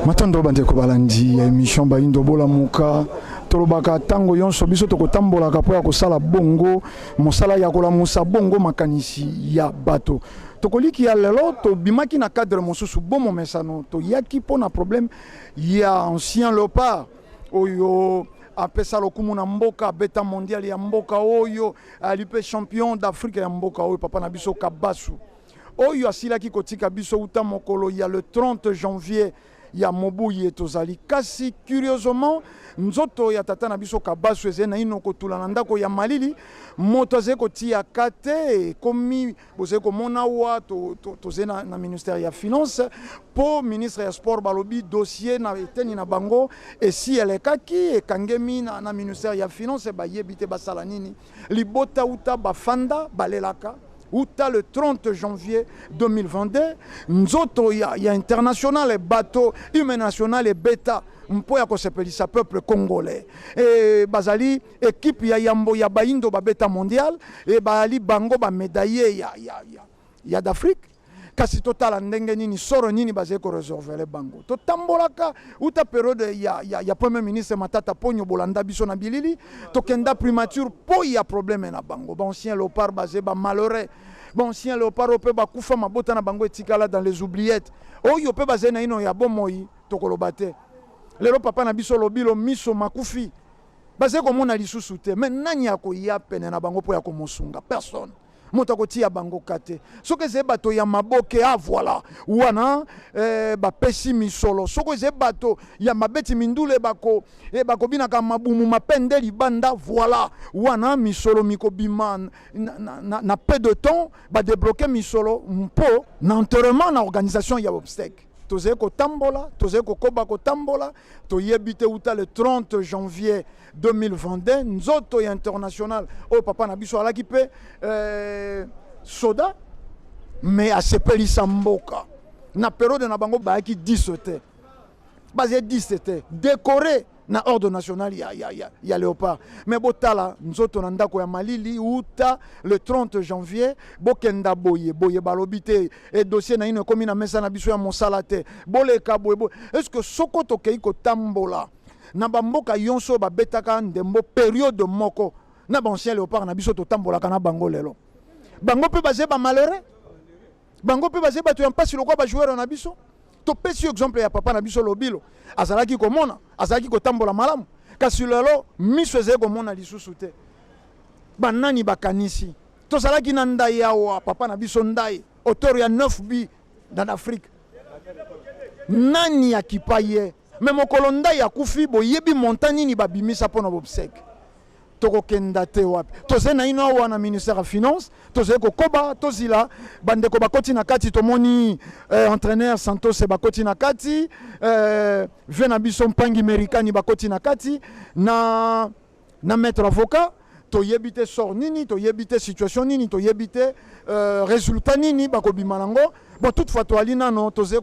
matondo bandeko balandi ya émission bayindo bolamuka tolobaka ntango yonso biso tokotambolaka mpo ya kosala bongo mosala ya kolamusa bongo makanisi ya bato tokoliki ya lelo tobimaki na cadre mosusu bomomesano toyaki mpo na problème ya ancien leopard oyo apesa lokumu na mboka abeta mondial ya mboka oyo ali mpe champion d'afrika ya mboka oyo papa na biso kabasu oyo asilaki kotika biso uta mokolo ya le 30 janvier ya mobu ye tozali kasi curieusement nzoto ya tata na biso kabasu ezali naino kotula na ndako ya malili moto azali kotia kate ekomi Bozali komona awa tozali na, na ministère ya finance mpo ministre ya sport balobi dossier na eteni na bango esi elekaki ekangemi na, na ministère ya finance bayebi te basala nini libota uta bafanda balelaka uta le 30 janvier 2022 nzoto ya, ya international bato humain national ebeta mpo ya kosepelisa peuple congolais e, bazali Equipe ya yambo ya bayindo babeta mondial ebaali bango ba medaille ya, ya, ya, ya d'Afrique kasi totala ndenge nini soro nini bazali koresorvele bango. Totambolaka uta periode ya, ya, ya premier ministre Matata Ponyo, bolanda biso na bilili, tokenda primature po ya probleme na bango. Baancien leopard baze ba malheureux, baancien leopard oyo mpe bakufa mabota na bango etikala dans les oubliettes, oyo mpe bazali naino ya bomoi tokoloba te. Lelo papa na biso Lobilo miso makufi Bazali komona lisusu te. Mais nani akoya pene na bango mpo ya komosunga? Personne. Moto akotia bango ka te. Soki ezali bato ya maboke, ah voilà, wana eh, bapesi misolo. Soki ezali bato ya mabeti mindule bako eh, bakobinaka mabumu mapende libanda, voilà, wana misolo mikobima na, na, na, na peu de temps, badebloke misolo mpo na enterrement na organisation ya obsèque. tozali kotambola tozali kokoba kotambola toyebi te uta le 30 janvier 2022 nzoto ya international oyo papa na biso alaki mpe eh, soda me asepelisa mboka na periode na bango bayaki 10 te bazali 10 te dekore na ordre national ya, ya, ya, ya leopard me botala nzoto na ndako ya malili uta le 30 janvier bokenda boye boye balobi te e dossier naino ekomi na mesa na biso ya mosala te boleka boye boye estce soko tokei kotambola na bamboka yonso oyo babetaka ndembo periode moko na baancien leopard na biso totambolaka na bango lelo bango mpe baze bamalheureux bango mpe bazali bato ya mpasi lokola bajoueur na biso topesi yo exemple ya papa na biso lobilo azalaki komona azalaki kotambola malamu kasi lelo miso ezali komona lisusu te banani bakanisi tozalaki na ndai awa papa na biso ndai auteur ya 9 bi dans afrique nani akipa ye me mokolo ndai akufi boyebi montant nini babimisa mpo na bobseke tokokenda te wapi tozali naino awa na ministère ya finance tozali kokoba tozila bandeko bakoti na kati tomoni eh, entraîneur santose bakoti na kati eh, vie na biso mpangi merikani bakoti na kati na, na maître avocat toyebi te sort nini toyebi te situation nini toyebi te eh, résultat nini bakobima nango bon toutefois toali nano tozali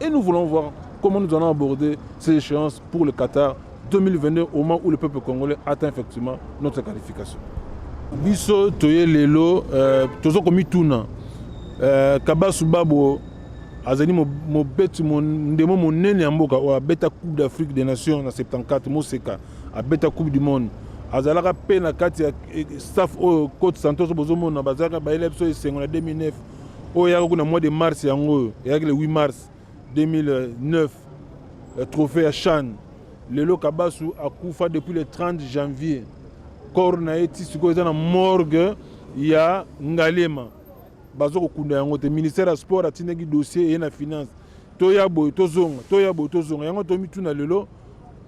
Et nous voulons voir comment nous allons aborder ces échéances pour le Qatar 2022 au moment où le peuple congolais atteint effectivement notre qualification. Biso toye lelo euh, tozo komituna euh, Kabasu Babo azali mobeti ndemo monene ya mboka oyo abeta coupe d'afrique des nations na 74 moseka abeta coupe du monde azalaka mpe na kati ya eh, staff oyo cote santos bozomona bazalaka bayela biso esengo na 2009 oyo eyaka kuna mois de mars yango oyo eyaki le 8 mars 2009 eh, trophée ya chan lelo kabasu akufa depuis le 30 janvier corps na ye ti sikoyo eza na morgue ya ngalema bazo kokunda yango te ministère ya sport atindaki dossier eye na finance toya boye tozonga toya boye tozonga yango tomituna lelo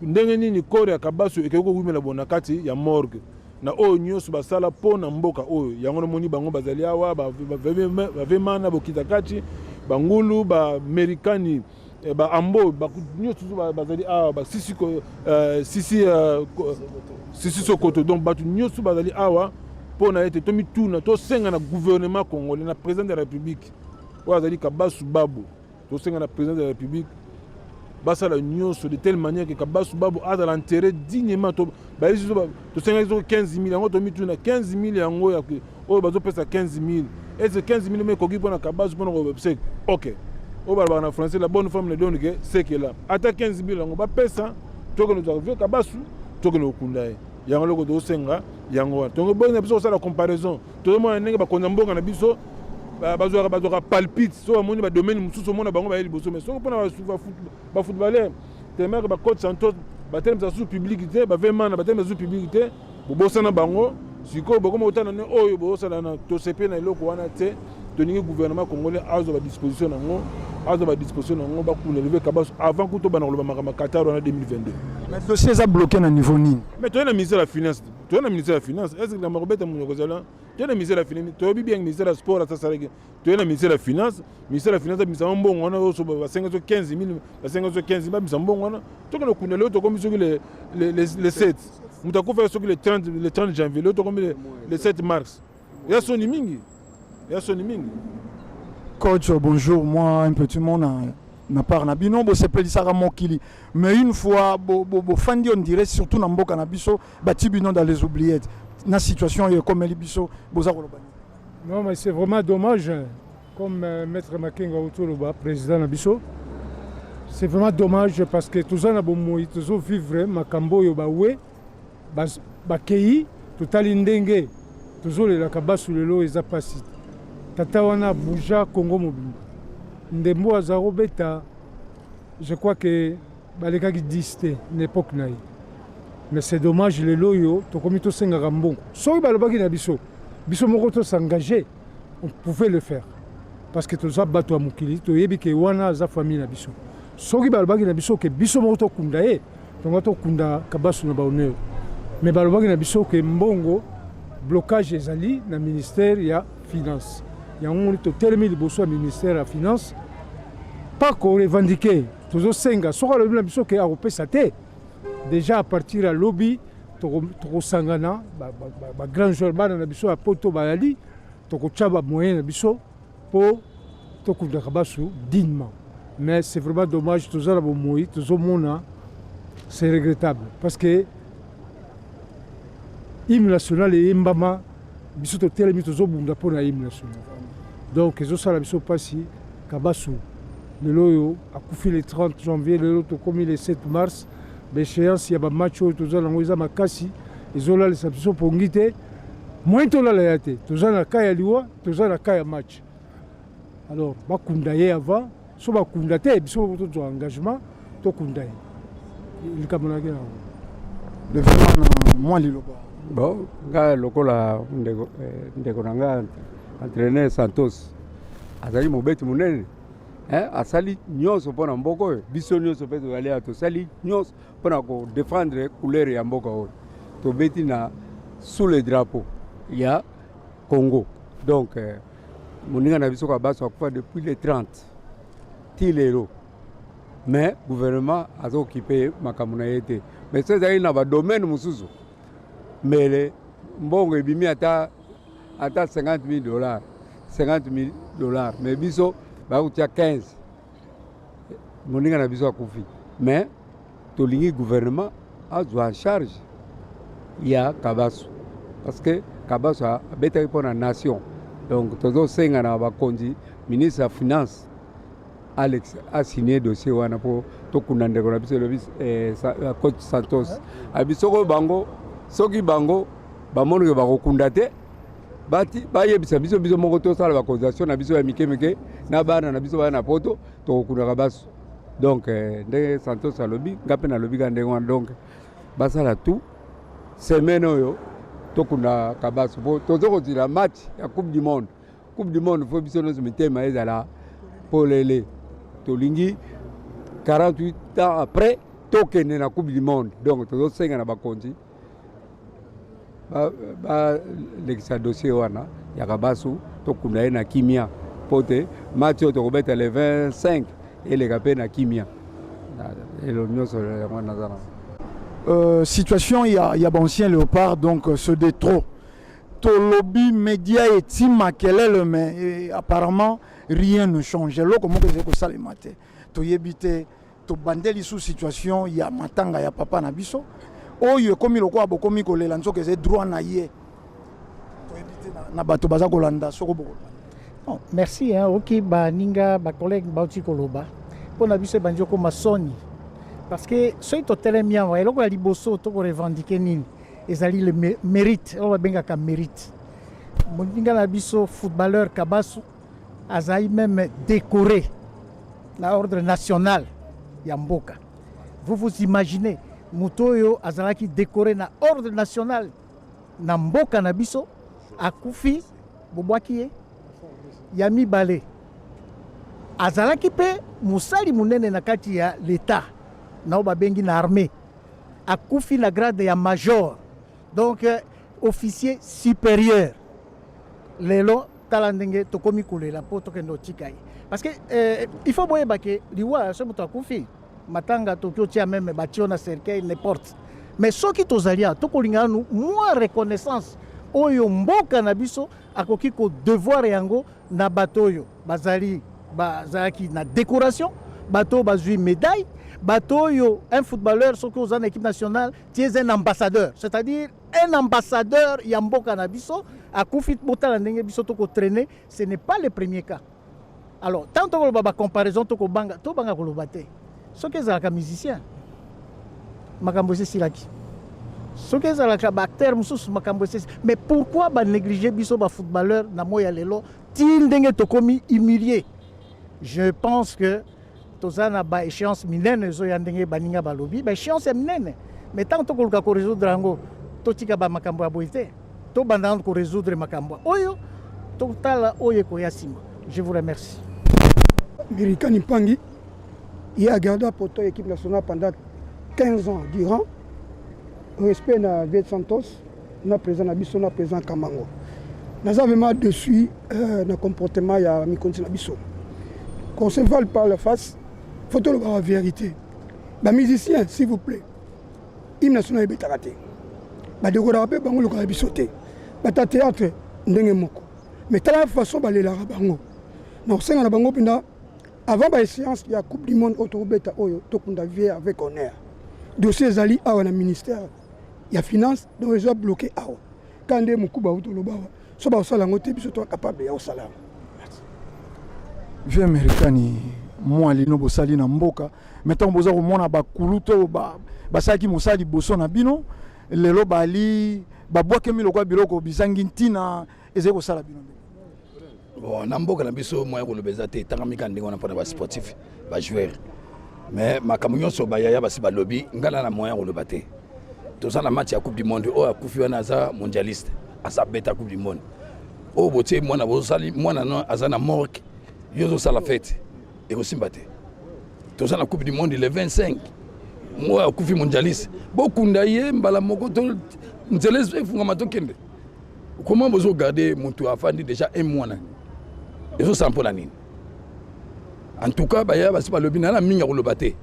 ndenge nini corps ya kabasu ekoki kowumela bona kati ya morgue na oyo nyonso basala mpo na mboka oyo yango namoni bango bazali awa bavema na bokitakati bangulu baamerikani eh, baambo nyonso bazali awa basisi eh, sisi eh, sisi sokoto donc bato nyonso bazali awa mpo na ete tomituna tosenga na gouvernement congolais na président de la république oyo azali kabasu babu tosenga na président de la république basala nyonso de telle manière que kabasu babu azala enterré dignement bayebisi biso tosengaki soko 15 000 yango tomituna 15 000 yango ya oyo bazopesa 15 000 ese 15 000 ma ekoki mpona kabasu mpona kobsek ok oyo balobaka na français la bonne femme ne donne que sekela ata 15 000 yango bapesa tokende tozaka vie kabasu tokende kokunda ye yango eloko tokosenga yango wana tongo boyina biso kosala comparaison tozomona ndenge bakonzi ya mboka na biso bazwaka bazwaka palpite so bamoni badomaine mosusu omona bango baye liboso mai soki mpona bafootballer temeke bacoach santos batelemisa susu publiki te bavemana batelemisa susu publiki te bobosana bango sikoyo bokoma kotana ne oyo bosala na tosepe na eloko wana te tolingi gouvernement congolais azwa badisposition na yango azwa badisposition na yango bakuna leve kabaso avant kuto bana koloba makambo ya qatar wana 2022 mais dossier eza bloqué na niveau nini mais toye na ministère ya finance to na ministère ya finance est ce que likambo ya kobeta moto ekozala to na ministère ya finance toyebi bien ministère ya sport ata asalaki toye na ministère ya finance ministère ya finance abimisa mbongo wana oso basenga so 15 000 basenga so 15 000 babimisa mbongo wana toke na kunda leo tokomi soki le, le, le, le 7 moto akufa soki le 30, le 30 janvier leo tokomi le, le 7 mars Ya soni mingi. Ya soni mingi. Coach, bonjour. Moi, un petit monde na part na bino bosepelisaka mokili mais une fois bofandi bo, bo on dirait surtout na mboka na biso bati bino dans les oubliettes na situation oyo ekomeli biso boza koloba non mais c'est vraiment dommage comme euh, maître makenga otoloba président na biso c'est vraiment dommage parce que toza na bomoi tozovivre makambo oyo bawe Bas, bakeyi totali ndenge tozolela kabasu lelo eza pasi tata wana bouja congo mobimba ndembo aza kobeta je crois que balekaki 10 te na epoque na ye mais c'est dommage lelo oyo tokomi tosengaka mbongo soki balobaki na biso biso moko tosengage on pouvait le faire parce que toza bato ya mokili toyebi ke wana aza famille na biso soki balobaki na biso ke biso moko tokunda ye tonga tokunda kabasu na bahonneur mais balobaki na biso ke mbongo blocage ezali na ministère ya finance yango totelemi liboso ya ministère ya finance pas ko revendiquer tozosenga soki alobi na biso ke akopesa te Dejà à partir ya lobi tokosangana ba grand joueur bana na biso ya poto bayali tokotya ba moyen na biso mpo tokundaka basu dignement mais c'est vraiment dommage toza na bomoi tozomona c'est regrettable parce que hymne national eyembama biso totelemi tozobunda mpo na hymne national donc ezosala biso mpasi kabasu lelo oyo akufi le 30 janvier lelo tokomi le 7 mars baéchéance ya bamatch oyo toza nango eza makasi ezolalisa biso mpongi te moyen tolala ya te toza na ka ya liwa toza na ka ya match alors bakunda ye avant so bakunda te biso tozwa engagement tokunda ye likambo nayaki na yango levema na mwa liloba bon ngai lokola ndeko, eh, ndeko na ngai entraîneur santos azali mobeti monene eh, asali nyonso mpo na mboka oyo biso nyonso mpe tozali ya tosali nyonso mpo na kodefendre couleur ya mboka oyo tobeti na sous le drapeau ya Congo donc euh, moninga na biso kabaso akufa depuis le 30 ti lelo mais gouvernement azokipe ye makambo na ye te mais so ezalaki na badomaine mosusu mbele mbongo ebimi ata ata 50 000 dollars 50 000 dollars mais biso bakotia 15 moninga na biso akufi mais tolingi gouvernement azwa en charge ya kabasu parce que kabasu abetaki mpo na nation donc tozosenga na bakonzi ministre ya finance alex asigne dossier wana mpo tokunda ndeko na biso elobi eh, eh, coach santos abi soko bango soki bango bamonike bakokunda te bati bayebisa biso biso moko tosala baconsultation na biso ya mike mike na bana na biso baya na poto tokokunaka baso donc eh, ndenge santos alobi nga mpe nalobi ka ndenge wana donc basala tout semaine oyo tokunda kabaso mpo toza kozila match ya coupe du monde coupe du monde fo biso nyonso mitema ezala polele tolingi 48 ans après tokende na coupe du monde donc tozosenga na bakonzi balekisa dossier wana ya kabasu tokunda ye na kimia mpo te match oyo tokobeta le 25 eleka mpe na kimia elo nyonso yango naza na euh, situation ya, ya baancien léopard donc euh, se de trop tolobi media eti makelele mais euh, apparemment rien ne change eloko moko ezali kosalema te toyebi te Tobande lisusu situation ya matanga ya papa na biso oyo ekomi lokola bokomi kolela nzoka eza droit na ye na bato baza kolanda soko boko bon, merci hein, oki baninga bacollègue bauti koloba mpo na biso ebandi okoma soni parce que soki totelemi awa eloko ya liboso tokorevendike nini ezali le mérite oyo babengaka mérite moninga na biso footballeur kabasu Azali meme decore na ordre national ya mboka. Vous vous imaginez moto oyo azalaki dekore na ordre national na mboka na biso akufi, bobwaki ye. Ya mibale, azalaki mpe mosali monene na kati ya leta nao babengi na armée, akufi na grade ya major. Donc euh, officier supérieur lelo tala ndenge tokomi kolela mpo tokende otika ye parce que euh, il faut boyeba ke liwa soki moto akufi matanga toki otia meme batio na cercueil n'importe mais soki tozali awa tokolingana nu mwa reconnaissance oyo mboka na biso akoki kodevoir yango na bato oyo bazali bazalaki na décoration bato oyo bazwi médaille bato oyo un footballeur soki oza na équipe nationale tu es un ambassadeur c'est-à-dire un ambassadeur ya mboka na biso akufi botala ndenge biso tokotraine ce n'est pas le premier cas alors ntango tokoloba bacomparaison tokobanga tobanga koloba te soki ezalaka musicien makambo esesilaki soki ezalaka baacteur mosusu makambo esesi mais pourquoi banéglige biso bafootballeur na moi ya lelo ti ndenge tokomi humilie je pense que toza na ba échéance minene ezoya ndenge baninga balobi ba échéance ya minene mais ntango tokoluka koresoudre yango totika bamakambo ya boye te tobanda nano koresoudre makambo oyo totala oyo ekoya nsima je vous remercie mirikani mpangi ye agarda poto ya équipe nationale pendant 15 ans durant respect na viet santos na président na biso na président Kamango naza vraiment dessus euh, na comportement ya mikonzi na biso qu'on se vale par la face faut tolobaka vérité bamusicien s'il vous plaît hymne national ebetaka te badekoraka mpe bango lokola biso te bata théâtre ndenge moko mais tala façon balelaka bango na kosenga na bango mpenza avant baéchéance ya coupe du monde oyo tokobeta oyo tokunda vie avec honneur dossier ezali awa na ministère ya finance donc ezo bloquer awa ka nde mokuba auti oloba awa so bakosala yango te biso to capable ya kosala yango vie amerikani mwa lino bosali na mboka mai ntango boza komona bakulu to basalaki ba mosala liboso na bino lelo bali babwakemi lokola biloko bizangi ntina ezali kosala bino ndeko bon na mboka na biso moya koloba eza te etangami kaka ndenge wana mpona basportif bajoueur mais makambo nyonso bayaya basi balobi ngai na na moya koloba te toza na match ya coupe du monde oyo akufi wana aza mondialiste aza beta coupe du monde oyo botie mwana bosali mwana no aza na morke yo ozosala fete ekosimba te toza na coupe du monde le 25 moyo akufi mondialiste bokunda ye mbala moko nzela efungama tokende comment bozo garder mutu afandi déjà un mois na ezo sampo na nini en tout cas baya basi balobi na na mingi ya koloba te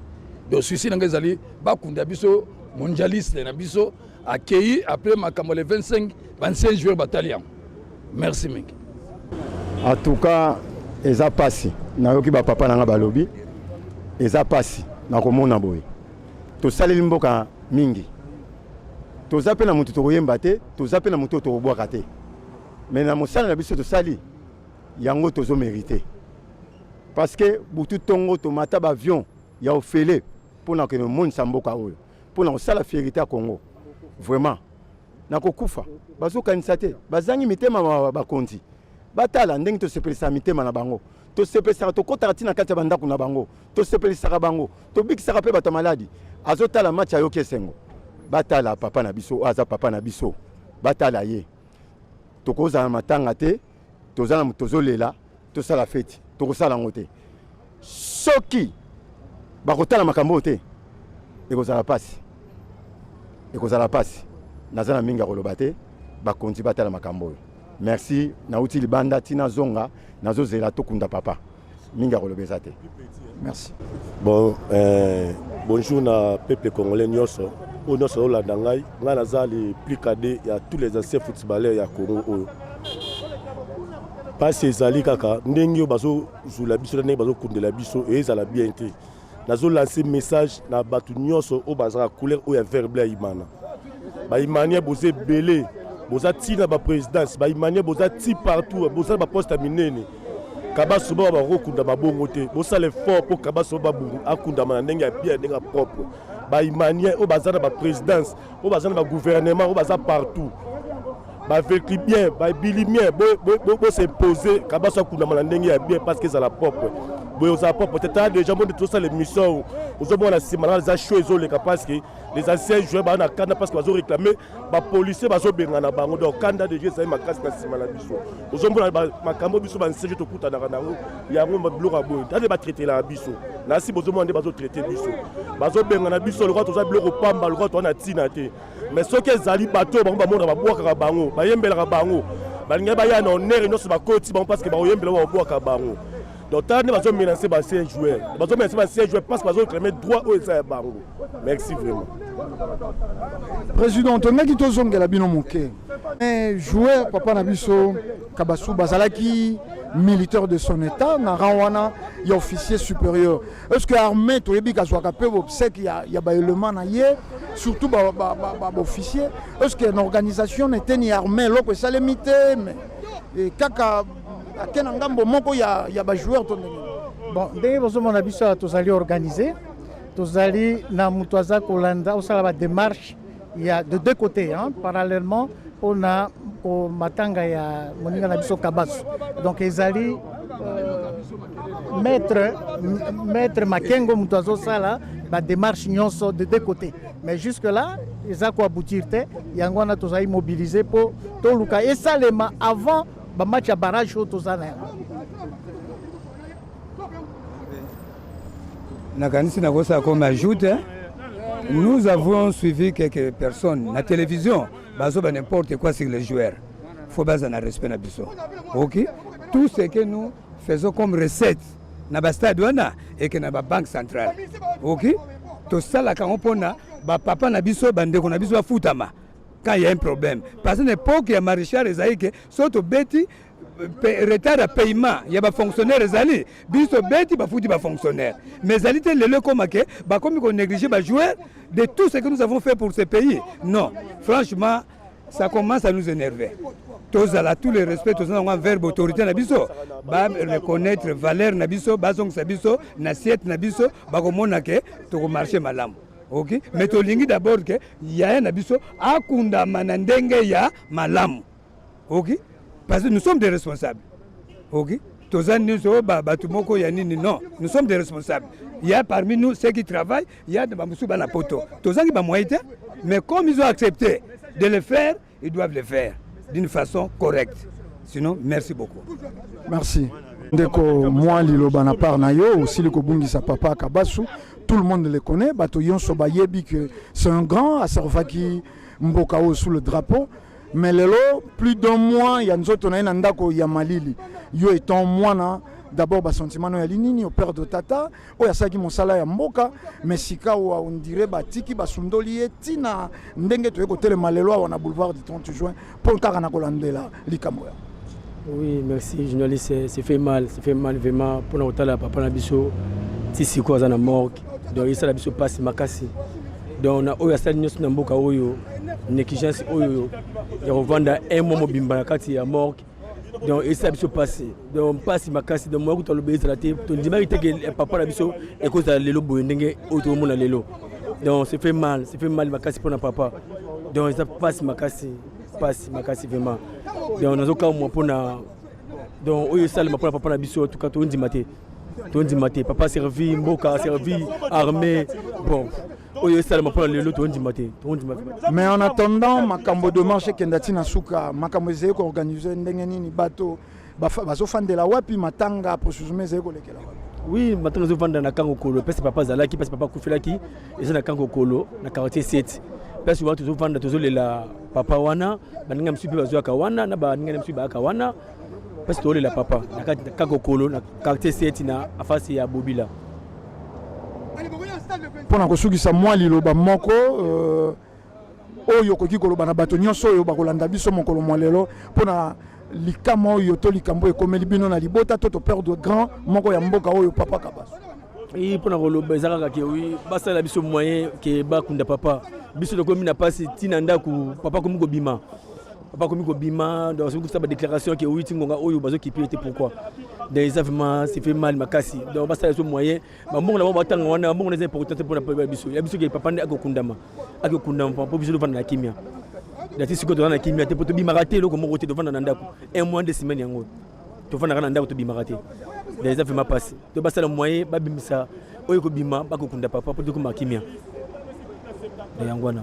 donc susi na ngai ezali bakunda biso mondialiste na biso akei après makambo le 25 25 joueur batali yango merci mingi en tout cas eza pasi nayoki bapapa na ngai balobi eza pasi nakomona boye tosaleli mboka mingi Toza pe na mutu tokoyemba te, toza pe na mutu tokobwaka te. Mais na mosala na biso tosali yango tozo merite. Parce que butu tongo tomata ba avion ya ofele pona ke monisa mboka oyo, pona kosala fierite ya Congo. Vraiment na kokufa bazokanisa te, bazangi mitema ma bakonzi. Batala ndenge tosepelisaka mitema na bango, tosepesaka tokotaka ti na kati ya bandako na bango, tosepelisaka bango. tobikisaka mpe bato ya maladi azotala match ayoki esengo batala papa na biso oyo aza papa na biso batala ye tokozala na matanga te toza na tozolela tosala feti tokosala yango te soki bakotala makambo oyo te ekozala mpasi ekozala mpasi naza na mingi ya koloba te bakonzi batala makambo oyo merci nauti libanda ntina zonga nazozela tokunda papa mingi ya koloba eza te merci bon eh, bonjour na peuple congolais nyonso oyo nyonso olanda ngai ngai naza le plus cadet ya tous les anciens footballeurs ya congo oyo mpasi ezali kaka ndenge oyo bazozula biso na ndenge bazokundela biso ezala bien te nazo lancer message na bato nyonso oyo bazalaka couleur oyo ya vert bleu ya imana baimania boza ebele boza ti na baprésidence baimania boza ti partout bosala baposte ya minene kabaso bao bakoki kokundama bongo te bosala effort mpo kabaso akundama na ndenge ya bien ndenge ya propre baimania oyo baza na baprésidence oyo baza na bagouvernement oyo baza partout bavekli bien babili bien bos'impose kabasi akundama na ndenge ya bien parce que ezala propre boye ozala propre te tala déjà moni tosala émission oyo ozomona na nsima na eza show ezoleka parce que les anciens joueurs baa na kanda parce que bazoréclame bapolicier bazobengana bango donc kanda déjà ezali makasi na nsima na biso ozomona makambo biso bansege tokutanaka na yango yango biloko ya boye tate batraitelaka biso na si bozomona nde bazotraite biso bazobengana biso lokola toza biloko pamba lokola toza na ntina te mais soki ezali bato oyo bango bamona babwakaka bango bayembelaka bango balingaki baya na onere nyonso bakoti bango parce que bakoyembela oyo babwaka bango donc tala nde bazo menace ba ancien joueur bazo menace ba ancien joueur parce que bazo réclame droit oyo eza ya bango merci vraiment président tolingaki tozongela bino moke mais joueur papa na biso kabasu bazalaki militaire de son état na rang wana ya officier supérieur est ce que armée toyebi kazwaka mpe bobsec ya, ya baelement na ye surtout baofficier ba, ba, ba, ba est ce que na organisation na eteni ya armée eloko esalemi te mais kaka ake na ngambo moko ya, ya bajoueur to ndenge bon ndenge bozomona biso awa tozali organise tozali na moto aza kolanda osala bademarche ya de deux côtés hein, parallèlement mpo na matanga ya moninga na biso kabasu donc ezali euh, maître, maître makengo moto azosala bademarche nyonso de deux côtés mais jusque là eza koaboutir te yango wana tozali mobilise mpo toluka esalema avant Ba match ya barrage oyo toza na yango. Nakanisi nakosa comme ajoute hein? nous avons suivi quelques personnes na télévision bazoba n'importe quoi sur les joueurs faut baza na respect na biso ok tout ce que nous faisons comme recette na bastade wana eke na babanque centrale ok tosalaka yango mpona bapapa na biso bandeko na biso bafutama quand il y a un problème parce que n'importe ya marichal ezali ke so tobeti retard ya paiement ya bafonctionnaire ezali biso tobeti bafuti bafonctionnaire mais ezali te lelo ekoma ke bakomi konéglige bajoueur de tout ce que nous avons fait pour ce pays non franchement ça commence à nous énerver tozala tous les respects toza nango envers baautorité na biso bareconnaitre valeur na biso bazongisa biso na siete na biso bakomona ke tokomarche malamu ok mais tolingi d'abord ke yaya na biso akundama na ndenge ya malamu ok parce que nous sommes des responsables ok toza nyonso oh, bato moko ya nini non nous sommes des responsables ya parmi nous ceux qui travaillent ya bamosusu bana poto tozangi bamoyen te mais comme ils ont accepté de le faire Ils doivent le faire d'une façon correcte. Sinon, merci beaucoup. Merci. Ndeko moi liloba na part na yo osili kobungisa papa Kabasu. Tout le monde le connaît. Bato yonso bayebi que c'est un grand aservaki mboka oyo sous le drapeau. Mais lelo plus d'un mois ya nzoto na ye na ndako ya malili. Yo étant mwana d'abord basentiment no ya linini operde tata oyo asalaki mosala ya mboka me sikawa ondire batiki basundoli ye ntina ndenge toye kotelema lelo awa na boulevard du 30 juin mpo kaka na kolandela likambo ya oui merci journaliste c'est fait mal c'est fait mal vraiment mpona kotala papa na biso ti sikoyo aza na morgue donc esala biso mpasi makasi donc na oyo asali nyonso na mboka oyo negligence oyo ya kovanda un mois mobimba na kati ya morgue donc esala biso mpasi donc mpasi makasi donc moya kutu aloba ezala te tondimaki te ke papa na biso ekozala lelo boye ndenge oyo tokomona lelo donc se fait mal se fait mal makasi mpo na papa donc eza mpasi makasi mpasi makasi vraiment donc nazokamwa mpo na donc oyo esalema mpo na papa na biso tuka tondima te tondima te papa servi mboka servi armée bon oyo esalama mpona lelo tondima te tondima mais en attendant makambo demarche ekenda ntina suka makambo ezali koorganize ndenge nini bato bazofandela wapi matanga processus ezali kolekela wapi oui matanga ezofanda na kango kolo place papa azalaki place papa akufelaki eza na kango kolo na quartier 7 place wana tozofanda tozolela papa wana baninga mosusu mpe bazoyaka wana na baninga na mosusu bayaka wana Parce que la papa, na kati na kakokolo na quartier seti na afasi ya Bobila. Pona kosukisa mwa liloba moko euh, oyo okoki koloba na bato nyonso oyo bakolanda biso mokolo mwa lelo mpona likama oyo to likambo ekomeli bino na libota to toperdre grand moko ya mboka oyo papa kabaso i mpona koloba eza kaka ke wi basalela biso moyen ke bakunda papa biso tokomi na mpasi ntina ndako papa akomi kobima Papa komi kobima donc soki kusa ba déclaration ke oyi tingonga oyo bazo kipe te pourquoi donc eza vraiment c'est fait mal makasi donc basala biso moyen bambongo na bango batanga wana bambongo na eza important te mpona peuple ya biso ya biso ke papa nde akokundama akokundama mpo biso tofanda na kimia dati sikoyo tozala na kimia te mpo tobimaka te eloko moko te tofanda na ndako un mois nde semaine yango tofandaka na ndako tobimaka te donc eza vraiment mpasi to basala moyen babimisa oyo ekobima bakokunda papa mpo tokoma kimia na yango wana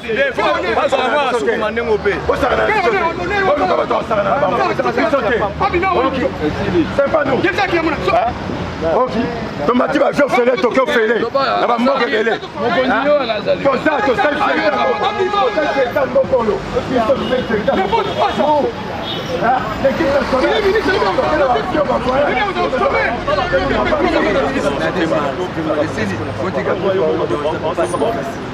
oki tomati bavio fele toke ofele na bamboka ebele toza tosali mbokolo Thank you.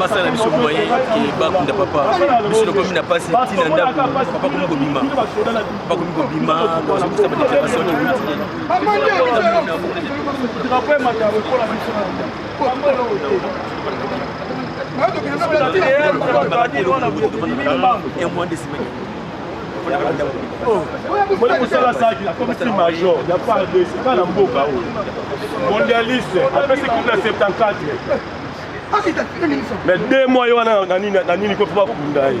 basala na biso moye ke bakunda papa biso tokomi na mpasi ntina ndako papa komi kobima papa komi kobima bazokisa badeclaration oyo mosala asalaki na komisi major ya fardc ka na mboka oyo mondialiste apesi coupe na 74 mais deux mois ye wana na nini kofi bakunda ye